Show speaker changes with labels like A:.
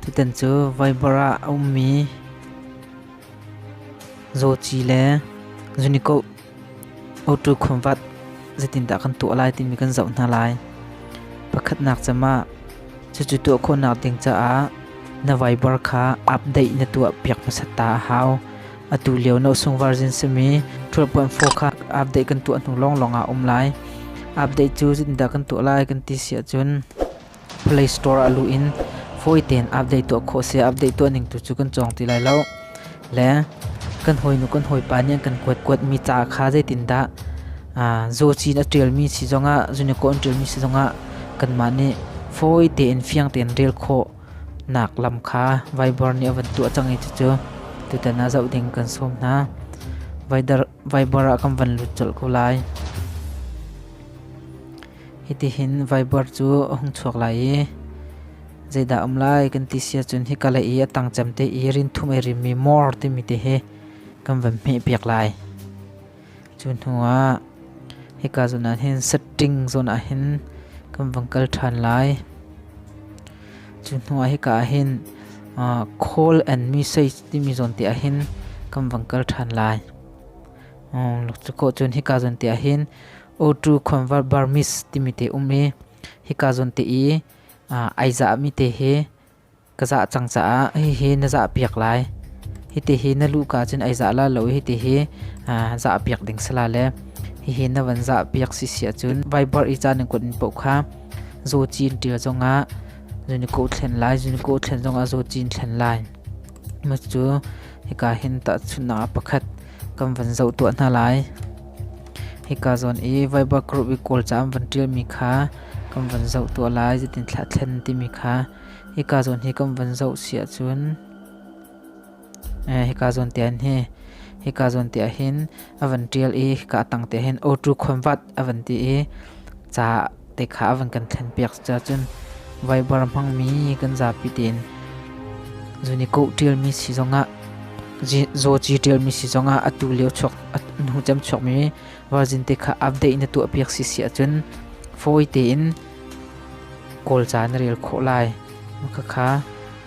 A: Tutan cu Vaibar ah a ummi zawci le zunikoh auto khuanvat zeitindah kan tuah lai timi kan zoh hna lai. Pakhatnak cem ah cucu tuah khawhnak ding caah na Vaibar kha update na tuah piak hmasat ta a hau. Atu lio na usung version simi ṭhulhpuanfo kha update kan tuah hnu lawnglawng ah a um lai. Update cu zeitindah kan tuah lai kan ti si ahcun Play Store ah luh in fawi tein update tuah khawh si. Update tuah ning tu cu kan cawng ti lai lo. Le kan hawinu kan hawipa nih an kan kuatkuatmi ca kha zeitindah zawcin a ṭialmi si zongah, zunikaw an ṭialmi si zongah kanmah nih fawi tein fiang tein rel khawh nak lam kha vaibor nih a van tuah cang i cucu tutan ah zoh ding kan sawm hna. Vaibor ah kan van lut colh ko lai. Hitihin vaibor cu a hung chuak lai i zeidah um lai kan ti sia cun hi kale i a tang cem te i rinthum ei rimmi mor timi te hi kan van hmeh piak lai. Cu hnuah hika zawn ah hin setting zawn ah hin kan vang kal ṭhan lai. Cu hnuah hika ah hin uh, call and message timi zawn te ah hin kan vang kal ṭhan lai. Um, cu ko cun hika zawn te ah hin O2 convert Burmese timi te um i hika zawn te i uh, ai zahmi te hi Ka zah cang caah hihi na zah piak lai. Hitihi na luka cun ai zah la lo i hitihi zah piak ding si la le hihi na van zah piak si si ahcun vai buar i caan in kut in poh kha zaw ci in ṭial zongah zun i koh thlen lai, zun i koh thlen zongah zaw ci in thlen lai. Macu hika hin tahchunhnak ah pakhat kan van zoh tuah hna lai. Hika zawn i Viber group i Kawlca an van ṭialmi kha kan van zoh tuah lai, zeitin thlah thlen timi kha hika zawn hi kan van zoh si ahcun eh, hika zawn tiang hi hika zawn tiang hin a van ṭial i hika tang te hin auto convert a van ti i ca te kha a van kan thlenpiak cahcun vaibar hmangmi kan zapi tein zun i koh ṭialmi si zongah zawci ṭialmi si zongah atu lio chuak hnu cem chuakmi vazin te kha update na tuahpiak si si ahcun fawi tein kawlca na rel khawh lai. Khakha